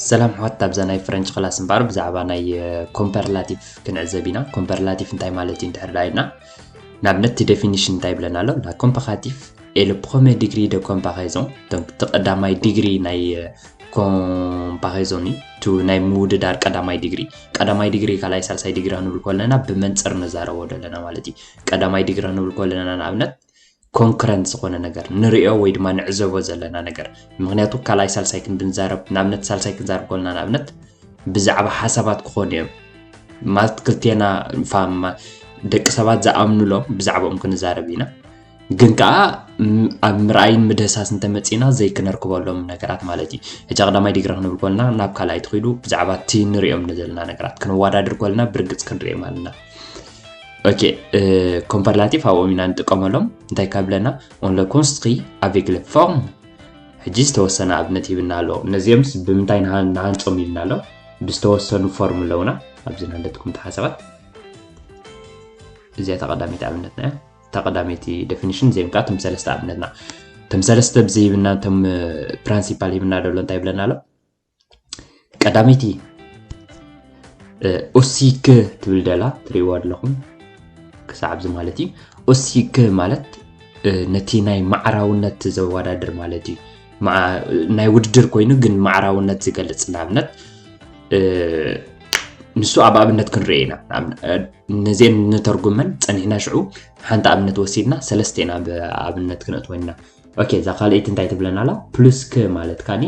ሰላም ሕዋት ኣብዛ ናይ ፍረንች ክላስ እምበኣር ብዛዕባ ናይ ኮምፐርላቲቭ ክንዕዘብ ኢና ኮምፐርላቲቭ እንታይ ማለት እዩ እንድሕር ዳ ኢልና ንኣብነት እቲ ዴፊኒሽን እንታይ ይብለና ኣሎ ላ ኮምፐኻቲቭ Et le premier degré de comparaison donc ተቀዳማይ ዲግሪ ናይ ኮምፓሪዞን እዩ እቲ ናይ ምውድዳር ቀዳማይ ዲግሪ ቀዳማይ ዲግሪ ካልኣይ ሳልሳይ ዲግሪ ክንብል ከለና ብመንፅር ንዛረቦ ዘለና ማለት እዩ ቀዳማይ ዲግሪ ክንብል ከለና ንኣብነት ኮንክረንት ዝኾነ ነገር ንሪኦ ወይ ድማ ንዕዘቦ ዘለና ነገር ምክንያቱ ካልኣይ ሳልሳይ ክንድንዛረብ ንኣብነት ሳልሳይ ክንዛረብ ከለና ንኣብነት ብዛዕባ ሓሳባት ክኾኑ እዮም ማለት ክልቴና ደቂ ሰባት ዝኣምኑሎም ብዛዕባኦም ክንዛረብ ኢና ግን ከዓ ኣብ ምርኣይን ምድህሳስ እንተመፂና ዘይክነርክበሎም ነገራት ማለት እዩ ሕጂ ቀዳማይ ዲግሪ ክንብል ኮልና ናብ ካልኣይ ትኽይዱ ብዛዕባ እቲ ንሪኦም ዘለና ነገራት ክንወዳድር ኮልና ብርግፅ ክንሪኦም ኣለና ኦኬ ኮምፐርላቲቭ ኣብኦም ኢና ንጥቀመሎም እንታይ ካብለና ኦንለ ኮንስትሪ ኣቬግለ ፎርም ሕጂ ዝተወሰነ ኣብነት ይብና ኣሎ ነዚኦምስ ብምንታይ ንሃንፆም ይብና ኣሎ ብዝተወሰኑ ፎርም ኣለውና ኣብዚ ናለትኩም ተሓሰባት እዚኣ ተቐዳሚት ኣብነትና እያ እታ ቀዳመይቲ ደፊኒሽን እዚኦም ከዓ እቶም ሰለስተ ኣብነትና እቶም ሰለስተ ብዚ ሂብና እቶም ፕራንሲፓል ሂብና ደሎ እንታይ ይብለና ኣሎ ቀዳመይቲ ኦሲክ ትብል ደላ ትሪእዋ ኣለኹም ክሳዕ ኣብዚ ማለት እዩ ኦሲክ ማለት ነቲ ናይ ማዕራውነት ዘወዳድር ማለት እዩ ናይ ውድድር ኮይኑ ግን ማዕራውነት ዝገልፅ ንኣብነት ንሱ ኣብ ኣብነት ክንርኢ ኢና ነዚኤን ንተርጉመን ጸኒሕና ሽዑ ሓንቲ ኣብነት ወሲድና ሰለስተ ኢና ብኣብነት ክንእትወና ኦኬ እዛ ካልኣይቲ እንታይ ትብለና ኣላ ፕሉስ ከ ማለት ካኒ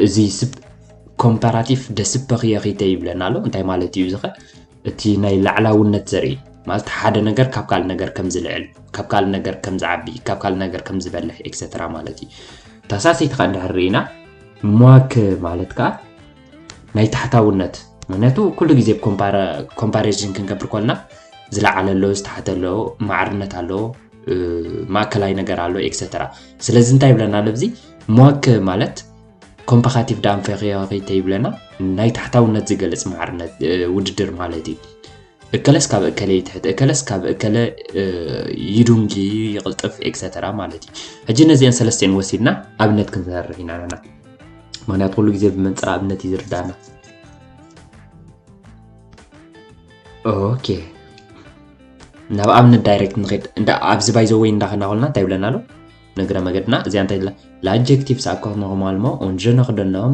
እዚ ስብ ኮምፓራቲቭ ደስፐኽየኺተ ይብለና ኣሎ እንታይ ማለት እዩ ዝኸ እቲ ናይ ላዕላውነት ዘርኢ ማለት ሓደ ነገር ካብ ካልእ ነገር ከም ዝልዕል ካብ ካልእ ነገር ከም ዝዓቢ ካብ ካልእ ነገር ከም ዝበልሕ ኤክሰትራ ማለት እዩ ተሳሲትካ እንድሕር ርኢና ሟክ ማለት ከዓ ናይ ታሕታውነት ምክንያቱ ኩሉ ግዜ ኮምፓሪዝን ክንገብር ኮልና ዝለዓለ ኣሎ ዝተሓተ ኣሎ ማዕርነት ኣሎ ማእከላይ ነገር ኣሎ ኤክሰተራ ስለዚ እንታይ ይብለና ኣሎ እዚ ሟክ ማለት ኮምፓካቲቭ ዳንፈኺኺ ተይብለና ናይ ታሕታውነት ዝገልፅ ማዕርነት ውድድር ማለት እዩ እከለስ ካብ እከለ ይትሕት እከለስ ካብ እከለ ይዱንጊ ይቕልጥፍ ኤክሰተራ ማለት እዩ ሕጂ ነዚአን ሰለስተን ወሲድና ኣብነት ክንሰርሕ ኢና ኣለና ምክንያቱ ኩሉ ግዜ ብመንፅር ኣብነት እዩ ዝርዳእና ኦኬ ናብ ኣብነት ዳይሬክት ንኸድ እንዳ ኣብዚ ባይዘ ወይ እንዳኸና ኮልና እንታይ ይብለና ኣሎ ንግረ መገድና እዚኣ እንታይ ላጀክቲቭስ ኣብ ከኽነኹም ኣልሞ ኦንጀ ነኽደናም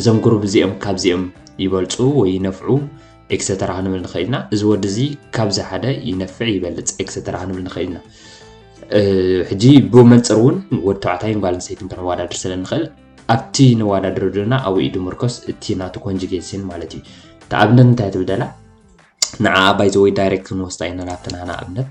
እዞም ግሩብ እዚኦም ካብዚኦም ይበልፁ ወይ ይነፍዑ ኤክሰተራ ክንብል ንኽእል ኢና እዚ ወዲ እዚ ካብዚ ሓደ ይነፍዕ ይበልፅ ኤክሰተራ ክንብል ንኽእል ኢና ሕጂ ብመንፅር እውን ወዲ ተባዕታይን ጓል ኣንስተይትን ከነወዳድር ስለ ንኽእል ኣብቲ ነወዳድሮ ድና ኣብኡ ኢዱ ምርኮስ እቲ ናቱ ኮንጅጌሽን ማለት እዩ ተኣብነት እንታይ ትብደላ ንዓ ባይዘወይ ዳይሬክት ክንወስዳ ኢና ናብቲ ናና ኣብነት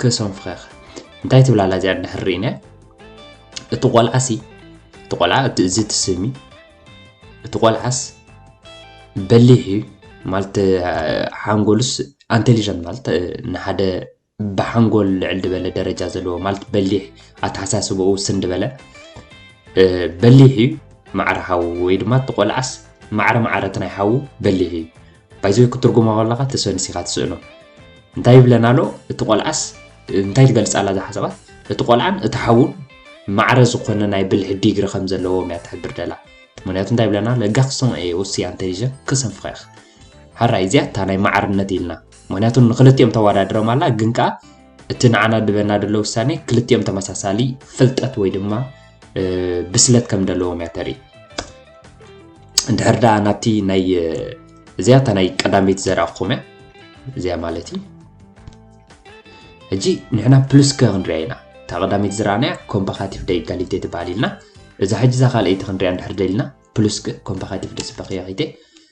ክሶም ፍኸኽ እንታይ ትብላ ኣላ እዚኣ እንድሕር ርኢናያ እቲ ቆልዓሲ እቲ ቆልዓ እቲ እዚ ትስሚ እቲ ቆልዓስ በሊሕ እዩ ማለት ሓንጎሉስ ኣንቴሊጀንት ማለት ንሓደ ብሓንጎል ልዕል ድበለ ደረጃ ዘለዎ ማለት በሊሕ ኣተሓሳስባኡ ውስን ድበለ በሊሕ እዩ ማዕረ ሓዉ ወይ ድማ እቲ ቆልዓስ ማዕረ ማዕረት ናይ ሓዉ በሊሕ እዩ ባይዘ ክትርጉማ ከለካ ተሰንሲካ ትስእኖ እንታይ ይብለና ኣሎ እቲ ቆልዓስ እንታይ ትገልፅ ኣላ እዛ ሓሳባት እቲ ቆልዓን እቲ ሓውን ማዕረ ዝኾነ ናይ ብልሒ ዲግሪ ከም ዘለዎም እያ ትሕብር ደላ ምክንያቱ እንታይ ይብለና ለጋክሶም እየ ወስያ እንተሊጀ ክሰንፍኸ ኢኽ ሓራይ እዚኣ እታ ናይ ማዕርነት ኢልና ምክንያቱ ንክልቲኦም ተወዳድሮም ኣላ ግን ከኣ እቲ ንዓና ድበና ደሎ ውሳኔ ክልቲኦም ተመሳሳሊ ፍልጠት ወይ ድማ ብስለት ከም ደለዎም እያ ተርኢ እንድሕር ደኣ ናብቲ ናይ እዚኣ እታ ናይ ቀዳመይቲ ዘርኣኹም እያ እዚኣ ማለት እዩ ሕጂ ንሕና ፕሉስ ከ ክንሪኣ ኢና እታ ቀዳመይቲ ዝረኣናያ ኮምፓካቲቭ ደ ኢጋሊቴ ትበሃል ኢልና እዛ ሕጂ እዛ ካልኣይቲ ክንሪኣ እንድሕር ደልና ፕሉስ ኮምፓካቲቭ ደስበኽያ ኺቴ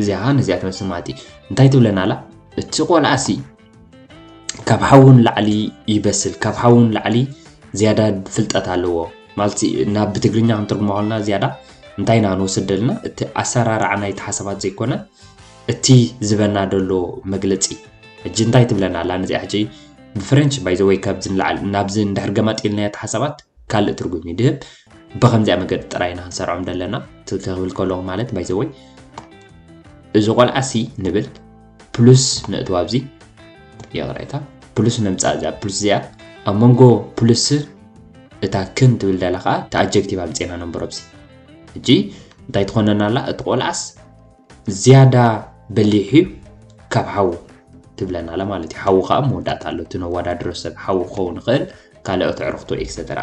እዚኣ ኸን እዚኣ ትመስል ማለት እዩ እንታይ ትብለና ኣላ እቲ ቆልዓሲ ካብ ሓውን ላዕሊ ይበስል ካብ ሓውን ላዕሊ ዝያዳ ፍልጠት ኣለዎ ማለት ናብ ብትግርኛ ክንትርጉሞ ከለና ዝያዳ እንታይ ኢና ንወስድ ደለና እቲ ኣሰራርዓ ናይቲ ሓሳባት ዘይኮነ እቲ ዝበና ደሎ መግለፂ ሕጂ እንታይ ትብለና ኣላ ነዚኣ ሕጂ ብፍረንች ባይዘወይ ካብዚ ንላዕሊ ናብዚ እንድሕር ገማጢልናዮ እቲ ሓሳባት ካልእ ትርጉም እዩ ድህብ ብከምዚኣ መገዲ ጥራይ ኢና ክንሰርዖም ዘለና ክብል ከለኹ ማለት ባይዘወይ እዚ ቆልዓ ሲ ንብል ፕሉስ ነእትዋ ኣብዚ ይቕሬታ ፕሉስ ነምፃእ እዚኣ ፕሉስ እዚኣ ኣብ መንጎ ፕሉስ እታ ክን ትብል ደላ ከዓ እቲ ኣጀክቲቭ ኣምፅና ነንበሮ ብሲ ሕጂ እንታይ ትኾነና ኣላ እቲ ቆልዓስ ዝያዳ በሊሕ እዩ ካብ ሓዉ ትብለና ኣላ ማለት እዩ ሓዉ ከዓ መወዳእታ ኣሎ እቲ ነዋዳድሮ ሰብ ሓዉ ክኸውን ይኽእል ካልኦት ዕርኽቱ ኤክሰተራ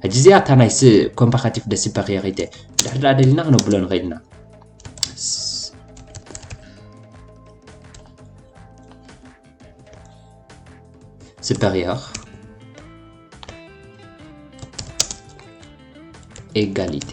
ሕጂ እዚኣ እታ ናይ ኮምፓካቲቭ ደሲፐክ እየ ከይተ ድሕሪ ድኣ ደሊና ክነብሎ ንኽእል ኢና ስበኽየኽ ኤጋሊቴ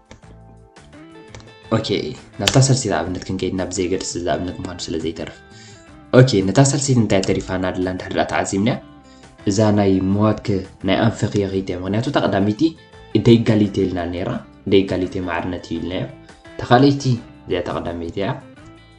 ኦኬ ናብታ ሰልሲት ኣብነት ክንከይድ ናብ ዘይገድስ እዚ ኣብነት ምዃኑ ስለ ዘይተርፍ ኦኬ ነታ ሰልሲት እንታይ ተሪፋና ድላ እንድሕድኣ ተዓዚብናያ እዛ ናይ መዋክ ናይ ኣንፈኽ የኺት እያ ምክንያቱ እታ ቀዳመይቲ ደይጋሊቴ ኢልና ነይራ ደይጋሊቴ ማዕርነት እዩ ኢልናዮ ተኻለይቲ እዚኣ ተቐዳመይቲ እያ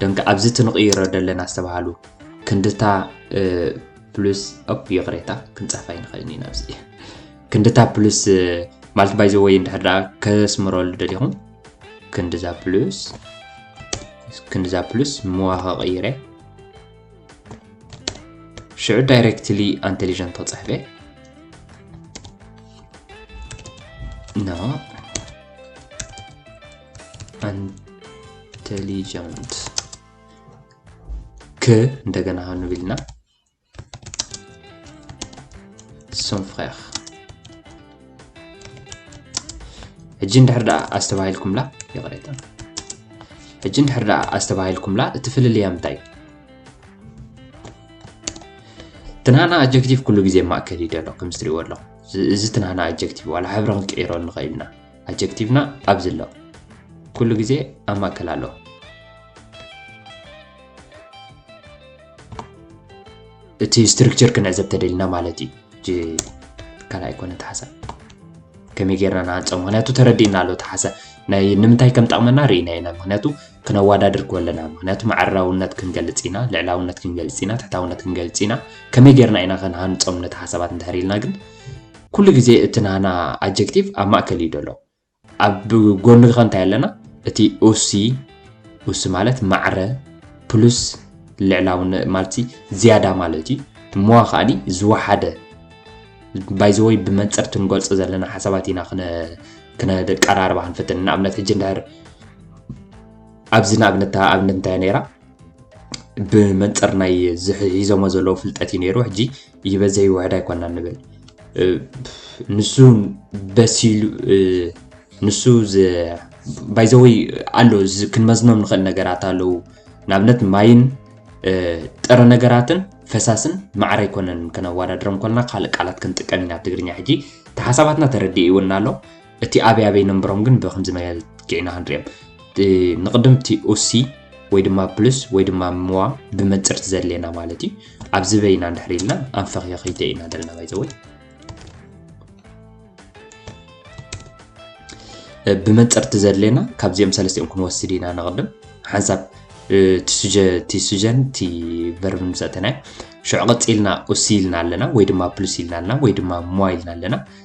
ደንቂ ኣብዚ እቲ ንቕይሮ ዘለና ዝተባሃሉ ክንድታ ፕሉስ ኦፕ ይቕሬታ ክንፅሕፋ ይንኽእል ኢና ኣብዚ ክንድታ ፕሉስ ማለት ባይ ዘወይ እንድሕር ደኣ ከስምረሉ ደሊኹም ክንድዛ ፕሉስ ክንድዛ ፕሉስ ምዋኸ ቀይረ ሽዑ ዳይሬክትሊ ኣንቴሊጀንት ተፅሕፈ ኖ ኢንቴሊጀንት ክ እንደገና ሃንብ ኢልና ሶን ፍሬር ሕጂ እንድሕር ደኣ ኣስተባሂልኩምላ ይቕሬታ ሕጂ እንድሕር ደኣ ኣስተባሂልኩምላ እቲ ፍልልያ ምንታይ ትናና ኣጀክቲቭ ኩሉ ግዜ ማእከል እዩ ደሎ ከምዚ ትሪእዎ ኣለኹም እዚ ትናና ኣጀክቲቭ ዋላ ሕብሪ ክንቅይሮ ንኽእል ኢና ኣጀክቲቭና ኣብዚ ኣሎ። ኩሉ ግዜ ኣብ ማእከል ኣሎ። እቲ ስትርክቸር ክንዕዘብ ተደሊና ማለት እዩ ካልእ ኣይኮነ ተሓሳ ከመይ ጌርና ንሃንፆ ምክንያቱ ተረዲእና ኣሎ ተሓሳ ናይ ንምንታይ ከም ጠቕመና ርኢና ኢና ምክንያቱ ክነዋዳድር ከለና ምክንያቱ ማዕራውነት ክንገልፅ ኢና ልዕላውነት ክንገልፅ ኢና ትሕታውነት ክንገልፅ ኢና ከመይ ጌርና ኢና ከንሃንፆም ነቲ ሓሳባት እንድሕር ኢልና ግን ኩሉ ግዜ እቲ ናህና ኣጀክቲቭ ኣብ ማእከል እዩ ደሎ። ኣብ ጎኑ'ኸ እንታይ ኣለና? እቲ ኡሲ፣ ኡሲ ማለት ማዕረ፣ ፕሉስ ልዕላውነ ማልትሲ ዝያዳ ማለት እዩ። እሞዋ ከኣኒ ዝወሓደ ባይ ዘ ወይ ብመንጽር እቲ ንገልጾ ዘለና ሓሳባት ኢና ክነ ክነደቀራርባ ክንፍትን ንኣብነት ሕጂ እንድሕር ኣብዚ ንኣብነት ኣብነት እንታይ ነይራ ብመንፅር ናይ ሒዞሞ ዘለዉ ፍልጠት እዩ ነይሩ ሕጂ ይበዝሕ ይውሕድ ኣይኮናን ንብል ንሱ በሲሉ ንሱ ባይዘወይ ኣሎ ክንመዝኖም ንኽእል ነገራት ኣለዉ ንኣብነት ማይን ጥረ ነገራትን ፈሳስን ማዕረ ኣይኮነን ከነወዳድሮም ኮልና ካልእ ቃላት ክንጥቀም ኢና ትግርኛ ሕጂ እቲ ሓሳባትና ተረዲእ ይውና ኣሎ እቲ ኣበይ ኣበይ ነንበሮም ግን ብከምዚ መገዲ ጌዕና ክንሪኦም ንቅድም እቲ ኡሲ ወይ ድማ ፕሉስ ወይ ድማ ምዋ ብመንፅርቲ ዘድልየና ማለት እዩ ኣብዚ በይና እንድሕር ኢልና ኣንፈኽዮ ከይተ ኢና ዘለና ባይዘወይ ብመንፅርቲ ዘድልየና ካብዚኦም ሰለስቲኦም ክንወስድ ኢና ንቅድም ሓንሳብ እቲ ሱጀን እቲ ቨርብን ምሰተናዮ ሽዑ ቀፂልና ኡሲ ኢልና ኣለና ወይ ድማ ፕሉስ ኢልና ኣለና ወይ ድማ ሞዋ ኢልና ኣለና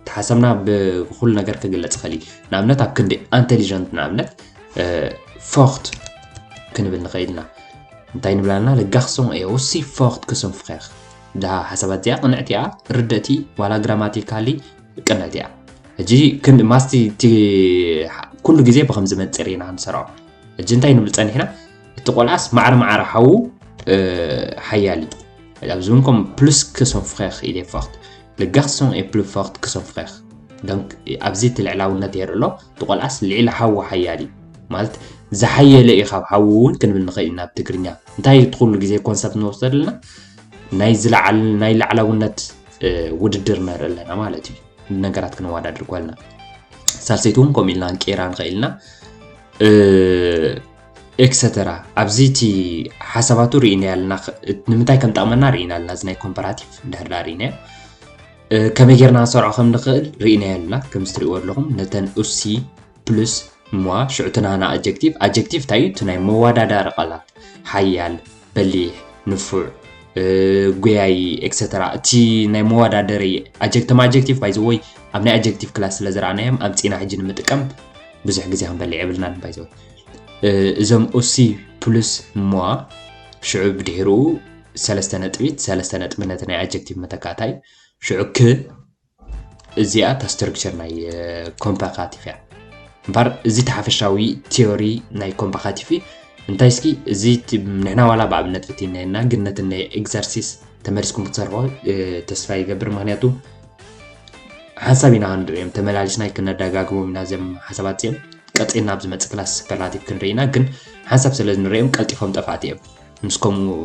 እቲ ሓሳብና ብኹሉ ነገር ክግለጽ ይኽእል እዩ። ንኣብነት ኣብ ክንዲ ኣንተሊጀንት ንኣብነት ፎርት ክንብል ንኽእል ኢና። እንታይ ንብል ኣለና? ለጋኽሶም እየ ውሲ ፎርት ክስም ፍኼኽ እዛ ሓሳባት እዚኣ ቅንዕቲ እያ፣ ርድእቲ ዋላ ግራማቲካሊ ቅንዕቲ እያ። ሕጂ ክንዲ ማስቲ እቲ ኩሉ ግዜ ብከምዚ መንፅር ኢና ንሰርዖ። ሕጂ እንታይ ንብል ፀኒሕና እቲ ቆልዓስ ማዕረ ማዕረ ሓዉ ሓያል እዩ ኣብዚ እውን ከም ፕሉስ ክስም ፍኼኽ ኢለ ፎርት Le garçon est plus fort que son frère donc ኣብዚ እቲ ልዕላውነት የርኢ ኣሎ እቲ ቆልዓስ ልዒሊ ሓዉ ሓያል እዩ ማለት ዝሓየለ እዩ ካብ ሓዉ እውን ክንብል ንኽእል ኢና ብትግርኛ እንታይ እቲ ኩሉ ግዜ ኮንሰፕት ንወስዶ ኣለና ናይ ዝለዓል ናይ ላዕላውነት ውድድር ንርኢ ኣለና ማለት እዩ ነገራት ክንወዳድር ኮልና ሳልሰይቲ እውን ከምኡ ኢልና ንቀይራ ንኽእል ኢና ኤክሰተራ ኣብዚ እቲ ሓሳባቱ ርኢናዮ ኣለና ንምንታይ ከም ጠቕመና ርኢና ኣለና እዚ ናይ ኮምፓራቲቭ እንድሕር ዳ ርኢናዮ ከመይ ጌርና ክንሰርዖ ከም ንኽእል ርኢናዮ ኣለና ከምዚ ትርእይዎ ኣለኹም ነተን ኡሲ ፕሉስ ሟ ሽዑ ትናና ኣጀክቲቭ ኣጀክቲቭ እንታይ እዩ እቲ ናይ መወዳዳሪ ቃላት ሓያል በሊሕ ንፉዕ ጎያይ ኤክሰተራ እቲ ናይ መወዳደሪ ኣጀክተም ኣጀክቲቭ ባይዘወይ ኣብ ናይ ኣጀክቲቭ ክላስ ስለ ዝረኣናዮም ኣምፂና ሕጂ ንምጥቀም ብዙሕ ግዜ ክንበልዕ የብልናን ባይዘወይ እዞም ኡሲ ፕሉስ እሞ ሽዑ ብድሕርኡ ሰለስተ ነጥቢት ሰለስተ ነጥቢ ነቲ ናይ ኣጀክቲቭ መተካእታ እዩ ሽዑ ክ እዚኣ እታ ስትርክቸር ናይ ኮምፓካቲቭ እያ እምበር እዚ ተሓፈሻዊ ቲዮሪ ናይ ኮምፓካቲቭ እንታይ እስኪ እዚ ንሕና ዋላ ብኣብነት ፍትናየና ግን ነቲ ናይ ኤግዘርሲስ ተመሊስኩም ክትሰርሖ ተስፋ ይገብር ምክንያቱ ሓንሳብ ኢና ክንርእዮም ተመላሊስና ክነደጋግሞም ኢና እዚም ሓሳባት እዚኦም ቀፂልና ኣብ ዝመፅእ ክላስ ሱፐርላቲቭ ክንርኢ ኢና ግን ሓንሳብ ስለ ንርእዮም ቀልጢፎም ጠፋእቲ እዮም ምስ ከምኡ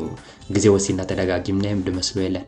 ግዜ ወሲድና ተደጋጊምናዮም ድመስሎ የለን